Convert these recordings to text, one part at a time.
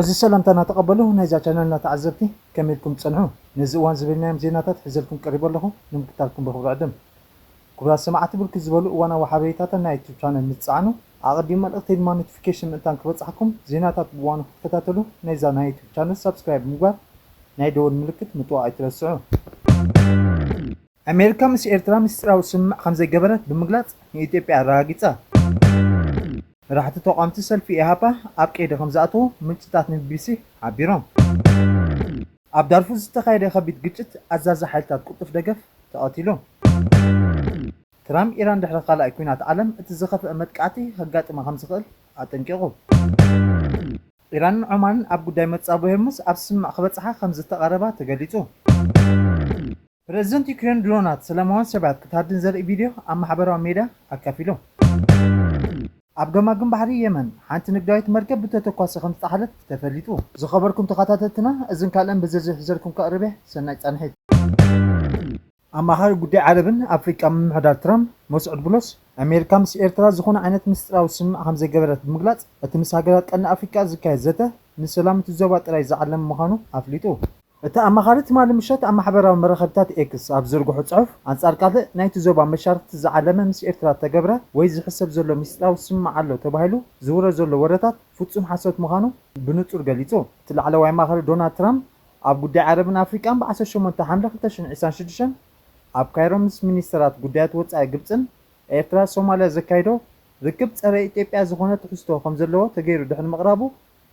እዚ ሰላምታ ናተቀበሉ ናይዛ ቻነልና ተዓዘብቲ ከመይ ኢልኩም ትጸንሑ ነዚ እዋን ዝበልናዮም ዜናታት ሒዘልኩም ቀሪበ ኣለኹ ንምክታልኩም ብክብሪ ዕድም። ክቡራት ሰማዕቲ ብርክት ዝበሉ እዋናዊ ሓበሬታታ ናይ ዩቱብ ቻነል ምስ ትጸዓኑ ኣቐዲሙ መልእኽተይ ድማ ኖቲፊኬሽን ምእንታን ክበጽሓኩም ዜናታት ብእዋኑ ክትከታተሉ ናይዛ ናይ ዩቱብ ቻነል ሳብስክራይብ ብምግባር ናይ ደወል ምልክት ምጥዋቕ ኣይትረስዑ። ኣሜሪካ ምስ ኤርትራ ምስጢራዊ ስምምዕ ከምዘይገበረት ብምግላጽ ንኢትዮጵያ ኣረጋጊጻ። መራሕቲ ተቓወምቲ ሰልፊ ኢህኣፓ ኣብ ቀይዲ ከምዝኣተዉ ምንጭታት ንቢቢሲ ሓቢሮም። ኣብ ዳርፉር ዝተኻየደ ከቢድ ግጭት ኣዛዚ ሓይልታት ቅልጡፍ ደገፍ ተቐቲሉ። ትራም ኢራን ድሕሪ ካልኣይ ኲናት ዓለም እቲ ዝኸፍኣ መጥቃዕቲ ከጋጥማ ከም ዝኽእል ኣጠንቂቑ። ኢራንን ዖማንን ኣብ ጉዳይ መጻብቦ ሄርሙዝ ኣብ ስምምዕ ክበጽሓ ከም ዝተቓረባ ተገሊጹ። ፕረዚደንት ዩክሬን ድሮናት ሰላማውያን ሰባት ክትሃድን ዘርኢ ቪድዮ ኣብ ማሕበራዊ ሜድያ ኣካፊሉ። ኣብ ገማግም ባሕሪ የመን ሓንቲ ንግዳዊት መርከብ ብተተኳሲ ከም ዝጠሓለት ተፈሊጡ። ዝኸበርኩም ተኻታተልትና እዝን ካልእን ብዝርዝር ሒዘልኩም ከቕርብ'የ ሰናይ ጻንሒት። ኣማኻሪ ጉዳይ ዓረብን ኣፍሪቃን ምምሕዳር ትራምፕ መስዑድ ቡሎስ፣ ኣሜሪካ ምስ ኤርትራ ዝኾነ ዓይነት ምስጢራዊ ስምምዕ ከምዘይገበረት ብምግላጽ፣ እቲ ምስ ሃገራት ቀርኒ ኣፍሪቃ ዝካየድ ዘተ፣ ንሰላም እቲ ዞባ ጥራይ ዝዓለመ ምዃኑ ኣፍሊጡ። እቲ ኣማኻሪ ትማሊ ምሸት ኣብ ማሕበራዊ መራኸቢታት ኤክስ ኣብ ዝዘርግሖ ጽሑፍ፣ ኣንጻር ካልእ ናይቲ ዞባ መሻርኽቲ ዝዓለመ ምስ ኤርትራ እተገብረ ወይ ዝሕሰብ ዘሎ ምስጢራዊ ስምምዕ ኣሎ ተባሂሉ ዝውረ ዘሎ ወረታት ፍጹም ሓሶት ምዃኑ ብንጹር ገሊጹ። እቲ ላዕለዋይ ኣማኻሪ ዶናልድ ትራምፕ፣ ኣብ ጉዳይ ዓረብን ኣፍሪቃን ብ ዓሰርተ ሸሞንተ ሓምለ ክልተ ሽሕን ዒስራን ሽዱሽተን ኣብ ካይሮ ምስ ሚኒስተራት ጉዳያት ወጻኢ ግብጽን ኤርትራ ሶማልያ ዘካይዶ ርክብ ጸረ ኢትዮጵያ ዝኾነ ትሕዝቶ ከም ዘለዎ ተገይሩ ድሕሪ ምቕራቡ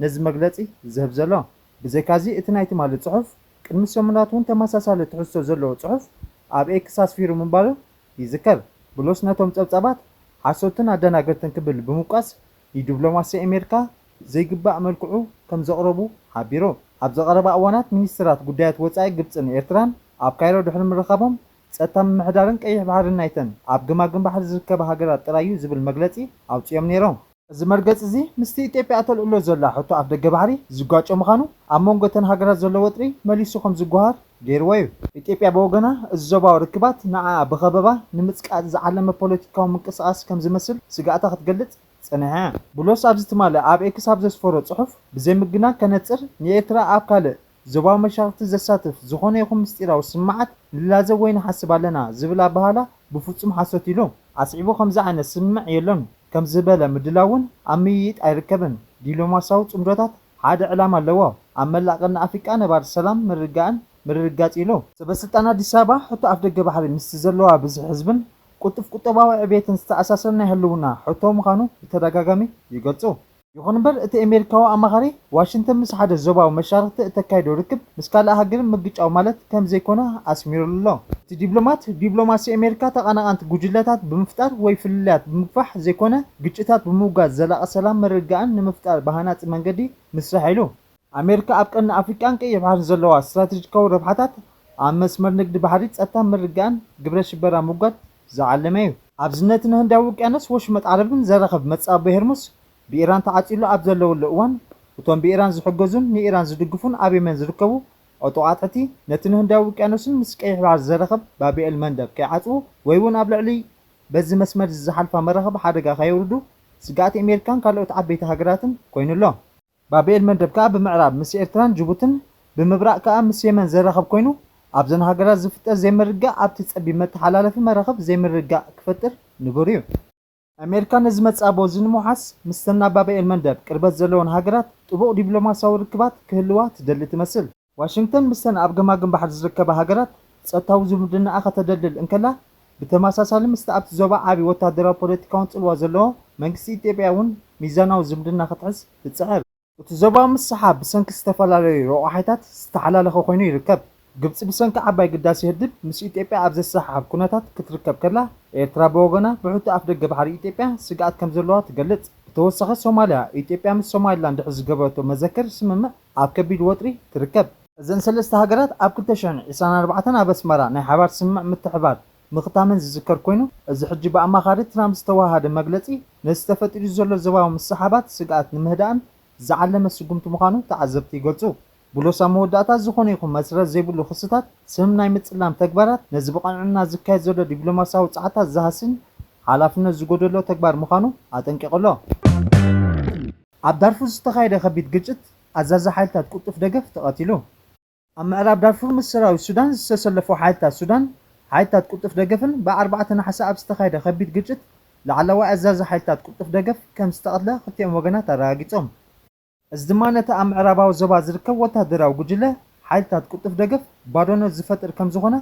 ነዚ መግለጺ ዝህብ ዘሎ። ብዘይካዚ እቲ ናይ ትማሊ ጽሑፍ ቅድሚ ሰሙናት ውን ተመሳሳሊ ትሕዝቶ ዘለዎ ጽሑፍ ኣብ ኤክስ ኣስፊሩ ምንባሩ ይዝከር። ብሎስ ነቶም ጸብጻባት ሓሶትን ኣደናገርትን ክብል ብምውቃስ ንዲብሎማሲ ኤሜርካ ዘይግባእ መልክዑ ከምዘቕረቡ ሓቢሮም። ኣብዚ ቀረባ እዋናት ሚኒስትራት ጉዳያት ወጻኢ ግብጽን ኤርትራን ኣብ ካይሮ ድሕሪ ምርኻቦም፣ ጸጥታ ምምሕዳርን ቀይሕ ባሕርን ናይተን ኣብ ገማግም ባሕሪ ዝርከባ ሃገራት ጥራይ'ዩ ዝብል መግለጺ ኣውጺኦም ነይሮም። እዚ መርገጺ'ዚ ምስቲ ኢትዮጵያ እተልዕሎ ዘላ ሕቶ ኣፍደገ ባሕሪ ዝጓጮ ምዃኑ፣ ኣብ መንጎ እተን ሃገራት ዘሎ ወጥሪ መሊሱ ከምዝጓሃር ገይርዎ'ዩ። ኢትዮጵያ ብወገና፣ እዚ ዞባዊ ርክባት ንዓኣ ብኸበባ ንምጽቃጥ ዝዓለመ ፖለቲካዊ ምንቅስቓስ ከምዝመስል ስግኣታ ክትገልጽ፣ ጸንሐ። ቡሎስ ኣብዚ ትማሊ ኣብ ኤክስ ኣብ ዘስፈሮ ጽሑፍ፣ ብዘይምግናን ከነጽር፣ ንኤርትራ ኣብ ካልእ ዞባዊ መሻርኽቲ ዘሳትፍ ዝኾነ ይኹን ምስጢራዊ ስምምዓት ንላዘብ ወይ ንሓስብ ኣለና ዝብል ኣበሃህላ ብፍጹም ሓሶት ኢሉ። ኣስዒቡ ከምዚ ዓይነት ስምምዕ የሎን፣ ከምዚ ዝበለ ምድላው እውን ኣብ ምይይጥ ኣይርከብን። ዲሎማሲያዊ ጽምዶታት ሓደ ዕላማ ኣለዎ፣ ኣብ መላእ ቀርኒ ኣፍሪቃ ነባሪ ሰላም ምርግጋእን ምርርጋጽ ኢሉ። ሰበስልጣን ኣዲስ ኣበባ ሕቶ ኣፍደገ ባሕሪ ምስቲ ዘለዋ ብዝሒ ህዝብን ቅልጡፍ ቁጠባዊ ዕብየትን ዝተኣሳሰር ናይ ህልውና ሕቶ ምዃኑ ብተደጋጋሚ ይገልጹ። ይኹን እምበር እቲ ኤሜሪካዊ ኣማኻሪ፣ ዋሽንተን ምስ ሓደ ዞባዊ መሻርኽቲ እተካይዶ ርክብ ምስ ካልእ ሃገር ምግጫው ማለት ከም ዘይኮነ ኣስሚሩሉ ኣሎ። እቲ ዲፕሎማት፣ ዲፕሎማሲ ኤሜሪካ ተቐናቓንቲ ጉጅለታት ብምፍጣር ወይ ፍልልያት ብምግፋሕ ዘይኮነ፣ ግጭታት ብምውጋድ ዘላቒ ሰላም ምርግጋእን ንምፍጣር ብሃናጺ መንገዲ ምስራሕ ኢሉ። ኣሜሪካ ኣብ ቀርኒ ኣፍሪቃን ቀይሕ ባሕርን ዘለዋ ስትራተጂካዊ ረብሓታት ኣብ መስመር ንግዲ ባሕሪ፣ ጸጥታን ምርግጋእን፣ ግብረ ሽበራ ምውጋድ ዝዓለመ'ዩ። ኣብዚ ነቲ ንህንዳዊ ውቅያኖስ ወሽመጥ ዓረብን ዘራኽብ መጻብቦ ሄርሙስ ብኢራን ተዓጽዩሉ ኣብ ዘለወሉ እዋን፣ እቶም ብኢራን ዝሕገዙን ንኢራን ዝድግፉን ኣብ የመን ዝርከቡ ዕጡቓት ሑቲ፣ ነቲ ንህንዳዊ ውቅያኖስን ምስ ቀይሕ ባሕሪ ዘራኽብ ባብኤል መንደብ ከይዓጽዉ ወይ'ውን ኣብ ልዕሊ በዚ መስመር'ዚ ዝሓልፋ መራኽብ ሓደጋ ከየውርዱ ስግኣት ኣሜሪካን ካልኦት ዓበይቲ ሃገራትን ኮይኑ ኣሎ። ባብኤል መንደብ ከኣ ብምዕራብ ምስ ኤርትራን ጅቡትን ብምብራቕ ከኣ ምስ የመን ዘራኽብ ኮይኑ ኣብዘን ሃገራት ዝፍጠር ዘይምርግጋእ ኣብቲ ጸቢብ መተሓላለፊ መራኽብ ዘይምርግጋእ ክፈጥር ንቡር እዩ። ኣሜሪካ ነዚ መጻብቦ እዚ ንምውሓስ ምስተን ናብ ባብኤል መንደብ ቅርበት ዘለወን ሃገራት ጥቡቕ ዲብሎማስያዊ ርክባት ክህልዋ ትደሊ ትመስል። ዋሽንግተን ምስተን ኣብ ገማግም ባሕሪ ዝርከባ ሃገራት ጸጥታዊ ዝምድናኣ ከተደልድል እንከላ፣ ብተመሳሳሊ ምስቲ ኣብቲ ዞባ ዓቢ ወተሃደራዊ ፖለቲካውን ጽልዋ ዘለዎ መንግስቲ ኢትዮጵያ'ውን ሚዛናዊ ዝምድና ክትሕዝ ትጽዕር። እቲ ዞባ ምስ ሰሓ ብሰንኪ ዝተፈላለዩ ረቋሒታት ዝተሓላለኸ ኮይኑ ይርከብ። ግብጺ ብሰንኪ ዓባይ ግዳሴ ህድብ ምስ ኢትዮጵያ ኣብ ዘሰሓሕብ ኩነታት ክትርከብ ከላ፣ ኤርትራ ብወገና ብሕቶ ኣፍደገ ባሕሪ ኢትዮጵያ ስግኣት ከምዘለዋ ትገልጽ። ብተወሳኺ ሶማልያ፣ ኢትዮጵያ ምስ ሶማሊላንድ ድሕሪ ዝገበረቶ መዘክር ስምምዕ፣ ኣብ ከቢድ ወጥሪ ትርከብ። እዘን ሰለስተ ሃገራት ኣብ ክልተ ሽሕን ዕስራን ኣርባዕተን ኣብ ኣስመራ ናይ ሓባር ስምምዕ ምትሕብባር ምኽታመን ዝዝከር ኮይኑ፣ እዚ ሕጂ ብኣማኻሪ ትራምፕ ዝተወሃሃደ መግለጺ ነቲ ተፈጢሩ ዘሎ ዞባዊ ምስሕሓባት ስግኣት ንምህዳእን ዝዓለመ ስጉምቲ ምዃኑ ተዓዘብቲ ይገልጹ። ብሎስ ኣብ መወዳእታ ዝኾነ ይኹን መስረት ዘይብሉ ክስታት ስም ናይ ምጽላም ተግባራት ነዚ ብቐንዕና ዝካየድ ዘሎ ዲፕሎማስያዊ ጸዓታት ዝሃስን ሓላፍነት ዝጎደሎ ተግባር ምዃኑ ኣጠንቂቑ ኣሎ። ኣብ ዳርፉር ዝተኻየደ ከቢድ ግጭት፣ ኣዛዚ ሓይልታት ቅልጡፍ ደገፍ ተቐቲሉ። ኣብ ምዕራብ ዳርፉር ምስ ሰራዊት ሱዳን ዝተሰለፉ ሓይልታት ሱዳን ሓይልታት ቅልጡፍ ደገፍን ብ ኣርባዕተ ነሓሰ ኣብ ዝተኻየደ ከቢድ ግጭት ላዕለዋይ ኣዛዚ ሓይልታት ቅልጡፍ ደገፍ ከም ዝተቐትለ ክልቲኦም ወገናት ኣረጋጊጾም። እዚ ድማ ነቲ ኣብ ምዕራባዊ ዞባ ዝርከብ ወተሃደራዊ ጉጅለ ሓይልታት ቅልጡፍ ደገፍ ባዶነት ዝፈጥር ከም ዝኾነ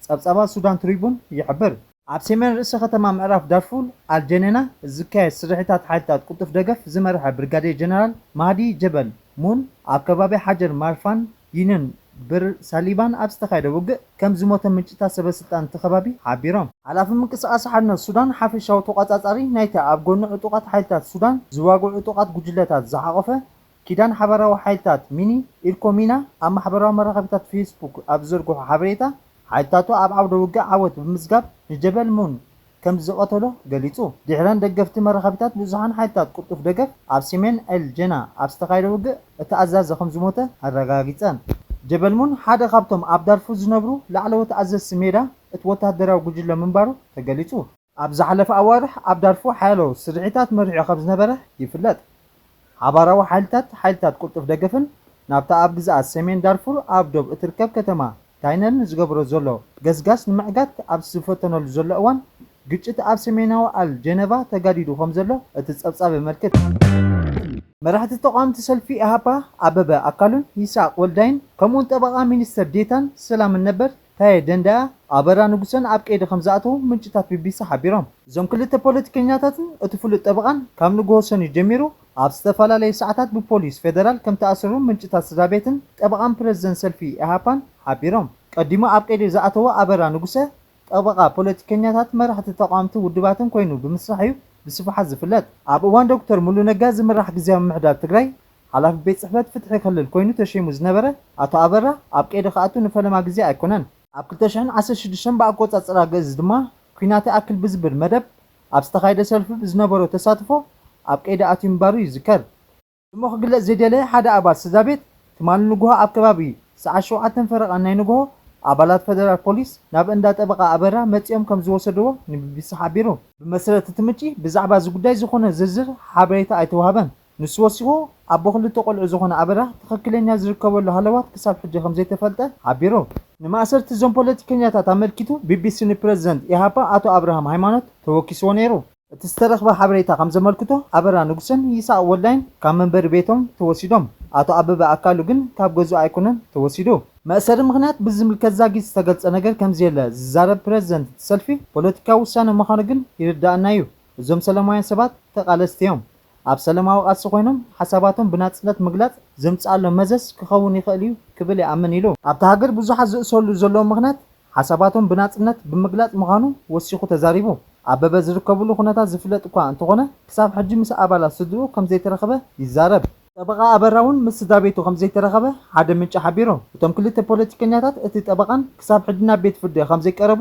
ጸብጻባት ሱዳን ትሪቡን ይሕብር። ኣብ ሴሜን ርእሰ ከተማ ምዕራብ ዳርፉል ኣል-ጀኔና ዝካየድ ስርሒታት ሓይልታት ቅልጡፍ ደገፍ ዝመርሐ ብርጋዴር ጀነራል ማህዲ ጀበል ሙን ኣብ ከባቢ ሓጀር ማርፋን ዩንዮን ብር ሳሊባን ኣብ ዝተኻየደ ውግእ ከም ዝሞተ ምንጭታት ሰበስልጣን እቲ ከባቢ ሓቢሮም። ሓላፊ ምንቅስቓስ ሓርነት ሱዳን ሓፈሻዊ ተቖጻጻሪ ናይቲ ኣብ ጎኒ ዕጡቓት ሓይልታት ሱዳን ዝዋግዑ ዕጡቓት ጉጅለታት ዝሓቖፈ ኪዳን ሓባራዊ ሓይልታት፣ ሚኒ፣ ኢርኮ ሚና ኣብ ማሕበራዊ መራኸቢታት ፌስቡክ ኣብ ዝዘርግሖ ሓበሬታ፣ ሓይልታቱ ኣብ ዓውደ ውግእ ዓወት ብምምዝጋብ ንጀበል ሙን ከም ዝቐተሎ ገሊጹ። ድሒረን ደገፍቲ መራኸቢታት ብዙሓን ሓይልታት ቅልጡፍ ደገፍ ኣብ ሰሜን ኤል ጀና ኣብ ዝተኻየደ ውግእ እቲ ኣዛዚ ከም ዝሞተ ኣረጋጊጸን። ጀበል ሙን ሓደ ካብቶም ኣብ ዳርፉር ዝነብሩ ላዕለዎት ኣዘዝቲ ሜዳ እቲ ወተሃደራዊ ጉጅለ ምንባሩ ተገሊጹ። ኣብ ዝሓለፈ ኣዋርሕ ኣብ ዳርፉር ሓያሎ ስርሒታት መሪሑ ከም ዝነበረ ይፍለጥ። ሓባራዊ ሓይልታት ሓይልታት ቅልጡፍ ደገፍን ናብታ ኣብ ግዝኣት ሰሜን ዳርፉር ኣብ ዶብ እትርከብ ከተማ ታይነርን ዝገብሮ ዘሎ ገስጋስ ንምዕጋት ኣብ ዝፈተነሉ ዘሎ እዋን ግጭት ኣብ ሰሜናዊ ኣል ጀነቫ ተጋዲዱ ከም ዘሎ እቲ ጸብጻብ የመልክት። መራሕቲ ተቓወምቲ ሰልፊ ኢህኣፓ ኣበበ ኣካሉን ይስሃቅ ወልዳይን ከምኡ'ውን ጠበቓ ሚኒስትር ዴታን ሰላምን ነበር ታየ ደንደኣ፣ ኣበራ ንጉሰን ኣብ ቀይዲ ከምዝኣተዉ ምንጭታት ቢቢሲ ሓቢሮም። እዞም ክልተ ፖለቲከኛታትን እቲ ፍሉጥ ጠበቓን ካብ ንግሆ ሰኑይ ጀሚሩ ኣብ ዝተፈላለየ ሰዓታት ብፖሊስ ፌደራል ከምተኣሰሩ ምንጭታት ስድራቤትን ጠበቓን ፕረዚደንት ሰልፊ ኢህኣፓን ሓቢሮም። ቀዲሙ ኣብ ቀይዲ ዝኣተወ ኣበራ ንጉሰ፣ ጠበቓ ፖለቲከኛታት፣ መራሕቲ ተቓወምቲ ውድባትን ኮይኑ ብምስራሕ'ዩ ብስፍሓት ዝፍለጥ። ኣብ እዋን ዶክተር ሙሉ ነጋ ዝምራሕ ግዝያዊ ምምሕዳር ትግራይ ሓላፊ ቤት ጽሕፈት ፍትሒ ክልል ኮይኑ ተሸይሙ ዝነበረ ኣቶ ኣበራ፣ ኣብ ቀይዲ ክኣቱ ንፈለማ ግዜ ኣይኮነን። ኣብ ክልተ ሽሕን ዓሰርተ ሽዱሽተን ብኣቆጻጽራ ግእዝ ድማ ኲናት ይኣክል ብዝብል መደብ ኣብ ዝተኻየደ ሰልፊ ብዝነበሮ ተሳትፎ ኣብ ቀይዲ ኣትዩ ምንባሩ ይዝከር። ስሙ ክግለጽ ዘይደለየ ሓደ ኣባል ስድራቤት፣ ትማሊ ንጉሆ ኣብ ከባቢ ሰዓት ሸውዓተን ፈረቓን ናይ ንጉሆ፣ ኣባላት ፈደራል ፖሊስ ናብ እንዳ ጠበቓ ኣበራ መጺኦም ከም ዝወሰድዎ ንቢቢሲ ሓቢሩ። ብመሰረት እቲ ምንጪ፣ ብዛዕባ እዚ ጉዳይ ዝኾነ ዝርዝር ሓበሬታ ኣይተዋህበን። ንሱ ወሲኹ፣ ኣቦ ክልተ ቆልዑ ዝኾነ ኣበራ፣ ትኽክለኛ ዝርከበሉ ሃለዋት ክሳብ ሕጂ ከምዘይተፈልጠ ሓቢሩ። ንማእሰርቲ እዞም ፖለቲከኛታት ኣመልኪቱ ቢቢሲ ንፕረዚደንት ኢሃፓ ኣቶ ኣብርሃም ሃይማኖት ተወኪስዎ ነይሩ። እቲ ዝተረኽበ ሓበሬታ ከምዘመልክቶ፣ ኣበራ ንጉሰን ይስሃቅ ወልዳይን ካብ መንበሪ ቤቶም ተወሲዶም። ኣቶ ኣበበ ኣካሉ ግን ካብ ገዝኡ ኣይኮነን ተወሲዱ። መእሰሪ ምኽንያት ብዝምልከት ዛጊት ዝተገልጸ ነገር ከምዘየለ ዝዛረብ ፕረዚደንት እቲ ሰልፊ፣ ፖለቲካዊ ውሳነ ምዃኑ ግን ይርደኣና'ዩ እዞም ሰለማውያን ሰባት ተቓለስቲ'ዮም። ኣብ ሰለማዊ ቃልሲ ኮይኖም ሓሳባቶም ብናጽነት ምግላጽ ዘምጽኣሎም መዘዝ ክኸውን ይኽእል'ዩ ክብል ይኣምን ኢሉ። ኣብታ ሃገር ብዙሓት ዝእሰሩሉ ዘለዉ ምኽንያት ሓሳባቶም ብናጽነት ብምግላጽ ምዃኑ ወሲኹ ተዛሪቡ። ኣበበ ዝርከቡሉ ኩነታት ዝፍለጥ'ኳ እንተኾነ ክሳብ ሕጂ ምስ ኣባላት ስድርኡ ከምዘይተረኸበ ይዛረብ። ጠበቓ ኣበራ'ውን ምስ ስድራቤቱ ከምዘይተረኸበ ሓደ ምንጪ ሓቢሩ። እቶም ክልተ ፖለቲከኛታት እቲ ጠበቓን ክሳብ ሕጂ ናብ ቤት ፍርዲ ከምዘይቀረቡ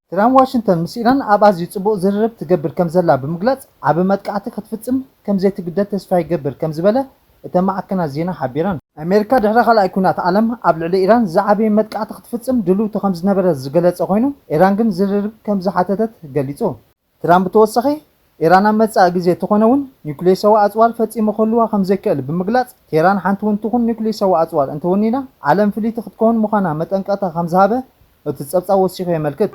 ኢራን ዋሽንግተን ምስ ኢራን ኣብ ኣዝዩ ጽቡቕ ዝርርብ ትገብር ከምዘላ ብምግላጽ ዓቢ መጥቃዕቲ ክትፍጽም ከምዘይትግደድ ተስፋ ይገብር ከምዝበለ እተን ማዕከናት ዜና ሓቢረን። ኣሜሪካ ድሕሪ ካልኣይ ኲናት ዓለም ኣብ ልዕሊ ኢራን ዝዓበየ መጥቃዕቲ ክትፍጽም ድልውቲ ከምዝነበረ ዝገለጸ ኮይኑ ኢራን ግን ዝርርብ ከምዝሓተተት ገሊጹ። ትራምፕ ብተወሳኺ፣ ኢራን ኣብ መጻኢ ግዜ እተኾነ'ውን ኒዩክሌሳዊ ኣጽዋር ፈጺሙ ክህልዋ ከም ዘይክእል ብምግላጽ፣ ቴህራን ሓንቲ'ውን ትኹን ኒዩክሌሳዊ ኣጽዋር እንተወኒና ዓለም ፍልይቲ ክትከውን ምዃና መጠንቀቕታ ከም ዝሃበ እቲ ጸብጻብ ወሲኹ የመልክት።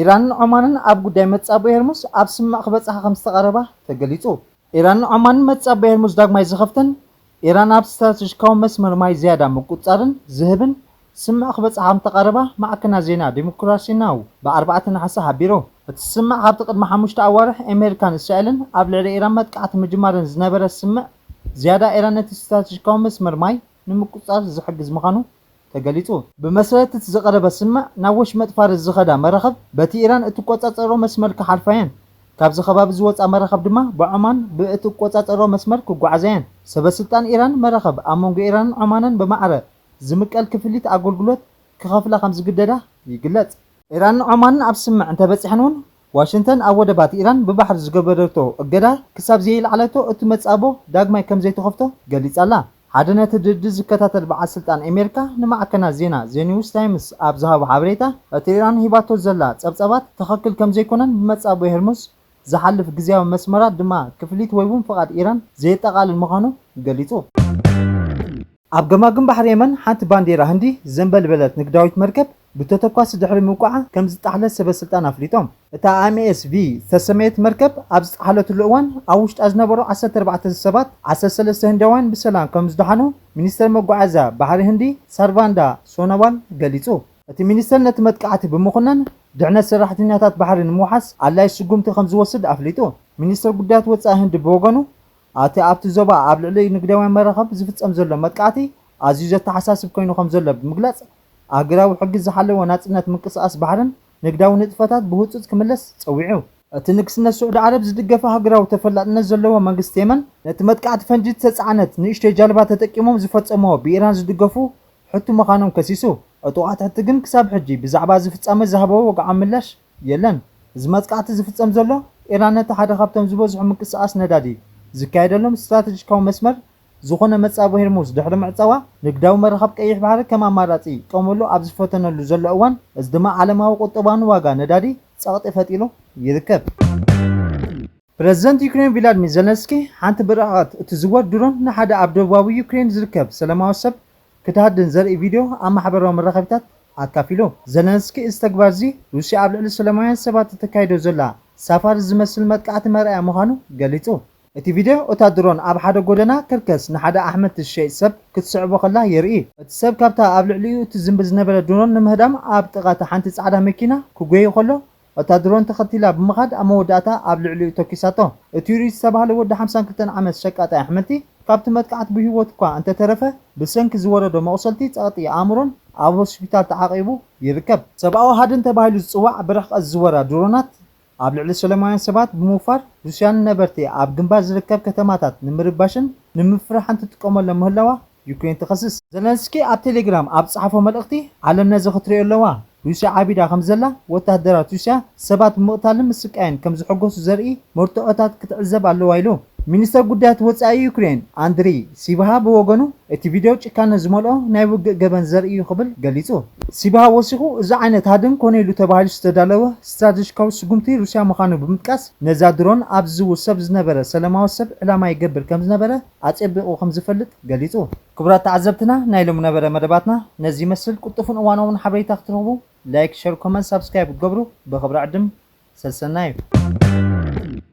ኢራንን ዖማንን ኣብ ጉዳይ መጻብቦ ሄርሙዝ ኣብ ስምምዕ ክበጽሓ ከም ዝተቓረባ ተገሊጹ። ኢራን ዖማን መጻብያ ሄርሙዝ ዳግማይ ዝኸፍተን፣ ኢራን ኣብ ስትራተጂካዊ መስመር ማይ ዝያዳ ምቁጽጻርን ዝህብን ስምምዕ ክበጽሓ ከምተቓረባ ማዕከናት ዜና ዲሞክራሲ ናው ብ ኣርባዕተ ነሓሰ ሓቢሩ። እቲ ስምምዕ ካብቲ ቅድሚ ሓሙሽተ ኣዋርሕ ኤሜሪካን እስራኤልን ኣብ ልዕሊ ኢራን መጥቃዕቲ ምጅማረን ዝነበረ ስምምዕ ዝያዳ ኢራን ነቲ ስትራተጂካዊ መስመር ማይ ንምቁጽጻር ዝሕግዝ ምዃኑ ተገሊጹ። ብመሰረት እቲ ዝቐረበ ስምምዕ፣ ናብ ወሽመጥ ፋርስ ዝኸዳ መራኽብ በቲ ኢራን እትቆጻጸሮ መስመር ክሓልፋ'የን። ካብዚ ከባቢ ዝወጻ መራኽብ ድማ ብዖማን ብእትቆጻጸሮ መስመር ክጓዓዛ'የን። ሰበስልጣን ኢራን፣ መራኽብ ኣብ መንጎ ኢራንን ዖማንን ብማዕረ ዝምቀል ክፍሊት ኣገልግሎት ክኸፍላ ከምዝግደዳ ይግለጽ። ኢራንን ዖማንን ኣብ ስምምዕ እንተበጺሐን'ውን ዋሽንተን ኣብ ወደባት ኢራን ብባሕሪ ዝገበረቶ እገዳ ክሳብ ዘየልዓለቶ እቲ መጻብቦ ዳግማይ ከም ዘይትኸፍቶ ገሊጻ ኣላ። ሓደ ነቲ ድርድር ዝከታተል በዓል ስልጣን ኤመሪካ ንማዕከናት ዜና ዘ ኒውስ ታይምስ ኣብ ዝሃቦ ሓበሬታ እቲ ኢራን ሂባቶ ዘላ ጸብጻባት ትኸክል ከም ዘይኮነን ብመጻብቦ ሄርሙዝ ዝሓልፍ ግዝያዊ መስመራት ድማ ክፍሊት ወይ'ውን ፍቓድ ኢራን ዘየጠቓልል ምዃኑ ገሊጹ። ኣብ ገማግም ባሕሪ የመን ሓንቲ ባንዴራ ህንዲ ዘንበልበለት ንግዳዊት መርከብ ብተተኳሲ ድሕሪ ምውቃዓ ከምዝጠሓለት ሰበስልጣን ኣፍሊጦም። እታ MSV ዝተሰመየት መርከብ ኣብ ዝጠሓለትሉ እዋን ኣብ ውሽጣ ዝነበሩ ዓሰርተ ኣርባዕተ ሰባት ዓሰርተ ሰለስተ ህንዳውያን ብሰላም ከምዝደሓኑ ሚኒስተር መጓዓዝያ ባሕሪ ህንዲ ሳርቫንዳ ሶኖዋል ገሊጹ። እቲ ሚኒስተር ነቲ መጥቃዕቲ ብምኹናን ድሕነት ሰራሕተኛታት ባሕሪ ንምውሓስ ኣድላዪ ስጉምቲ ከምዝወስድ ኣፍሊጡ። ሚኒስተር ጉዳያት ወጻኢ ህንዲ ብወገኑ፣ ኣቲ ኣብቲ ዞባ ኣብ ልዕሊ ንግዳውያን መራኽብ ዝፍጸም ዘሎ መጥቃዕቲ ኣዝዩ ዘተሓሳስብ ኮይኑ ከምዘሎ ብምግላጽ፣ ኣህጉራዊ ሕጊ ዝሓለወ ናጽነት ምንቅስቓስ ባሕርን ንግዳዊ ንጥፈታት ብህጹጽ ክምለስ ጸዊዑ። እቲ ንግስነት ስዑዲ ዓረብ ዝድገፍ ኣህጉራዊ ተፈላጥነት ዘለዎ መንግስቲ የመን፣ ነቲ መጥቃዕቲ ፈንጂ ዝተጻዕነት ንእሽቶይ ጃልባ ተጠቂሞም ዝፈጸምዎ ብኢራን ዝድገፉ ሕቱ ምዃኖም ከሲሱ። ዕጡቓት ሕቲ ግን ክሳብ ሕጂ ብዛዕባ እዚ ፍጻመ ዝሃብዎ ወግዓዊ ምላሽ የለን። እዚ መጥቃዕቲ ዝፍጸም ዘሎ፣ ኢራን ነቲ ሓደ ካብቶም ዝበዝሑ ምንቅስቓስ ነዳዲ ዝካየደሎም ስትራተጂካዊ መስመር ዝዀነ መጻብቦ ሄርሙዝ ድሕሪ ምዕጻዋ፣ ንግዳዊ መራኽብ ቀይሕ ባሕሪ ከም ኣማራጺ ይጥቀመሉ ኣብ ዝፈተነሉ ዘሎ እዋን፣ እዚ ድማ ዓለማዊ ቍጠባውን ዋጋ ነዳዲ ጸቕጢ ፈጢሩ ይርከብ። ፕረዚደንት ዩክሬን ቪላድሚር ዘለንስኪ፣ ሓንቲ ብርሕቐት እትዝወር ድሮን ንሓደ ኣብ ደቡባዊ ዩክሬን ዝርከብ ሰለማዊ ሰብ ክትሃድን ዘርኢ ቪድዮ ኣብ ማሕበራዊ መራኸቢታት ኣካፊሉ። ዘለንስኪ እዚ ተግባር'ዚ፣ ሩስያ ኣብ ልዕሊ ሰለማውያን ሰባት እተካይዶ ዘላ ሳፋሪ ዝመስል መጥቃዕቲ መርኣያ ምዃኑ ገሊጹ። እቲ ቪድዮ፣ እታ ድሮን ኣብ ሓደ ጎደና ከርከስ ንሓደ ኣሕምልቲ ዝሸይጥ ሰብ ክትስዕቦ ከላ የርኢ። እቲ ሰብ ካብታ ኣብ ልዕሊኡ እትዝምቢ ዝነበረት ድሮን ንምህዳም ኣብ ጥቓ'ታ ሓንቲ ጻዕዳ መኪና ክጎዪ ከሎ እታ ድሮን ተኸቲላ ብምኻድ ኣብ መወዳእታ ኣብ ልዕሊኡ ተኲሳቶ። እቲ ሪድ ዝተባህለ ወዲ ሓምሳን ክልተን ዓመት ሸቃጣይ ኣሕምልቲ፣ ካብቲ መጥቃዕቲ ብህይወቱ'ኳ እንተተረፈ፣ ብሰንኪ ዝወረዶ መቝሰልቲ ጸቕጢ ኣእምሮን ኣብ ሆስፒታል ተዓቚቡ ይርከብ። ሰብኣዊ ሃድን ተባሂሉ ዝጽዋዕ ብርሕቀት ዝዝወራ ድሮናት፣ ኣብ ልዕሊ ሰለማውያን ሰባት ብምውፋር፣ ሩስያ ንነበርቲ ኣብ ግንባር ዝርከብ ከተማታት ንምርባሽን ንምፍርሓን ትጥቀመሎም ምህላዋ ዩክሬን ትኸስስ። ዘለንስኪ ኣብ ቴሌግራም ኣብ ዝጸሓፎ መልእኽቲ፣ ዓለም ነዚ ክትርእዮ ኣለዋ፣ ሩስያ ዓቢዳ ከም ዘላ፣ ወተሃደራት ሩስያ ሰባት ብምቕታልን ምስቃይን ከም ዝሕጎሱ ዘርኢ መርትዖታት ክትዕዘብ ኣለዋ ኢሉ። ሚኒስተር ጉዳያት ወጻኢ ዩክሬን ኣንድሪ ሲብሃ ብወገኑ፣ እቲ ቪድዮ ጭካነ ዝመልኦ ናይ ውግእ ገበን ዘርኢ እዩ ክብል ገሊጹ። ሲብሃ ወሲኹ፣ እዚ ዓይነት ሃድን ኮነ ኢሉ ተባሂሉ ዝተዳለወ ስትራተጂካዊ ስጉምቲ ሩስያ ምዃኑ ብምጥቃስ፣ ነዛ ድሮን ኣብ ዝዝውር ሰብ ዝነበረ ሰለማዊ ሰብ ዕላማ ይገብር ከም ዝነበረ ኣጼቢቑ ከም ዝፈልጥ ገሊጹ። ክቡራት ተዓዘብትና ናይ ሎሚ ነበረ መደባትና ነዚ ይመስል ቁልጡፍን እዋናውን ሓበሬታ ክትረኽቡ ላይክ ሸር ኮመንት ሳብስክራይብ ክትገብሩ ብኽብሪ ዕድም ሰሰናዩ።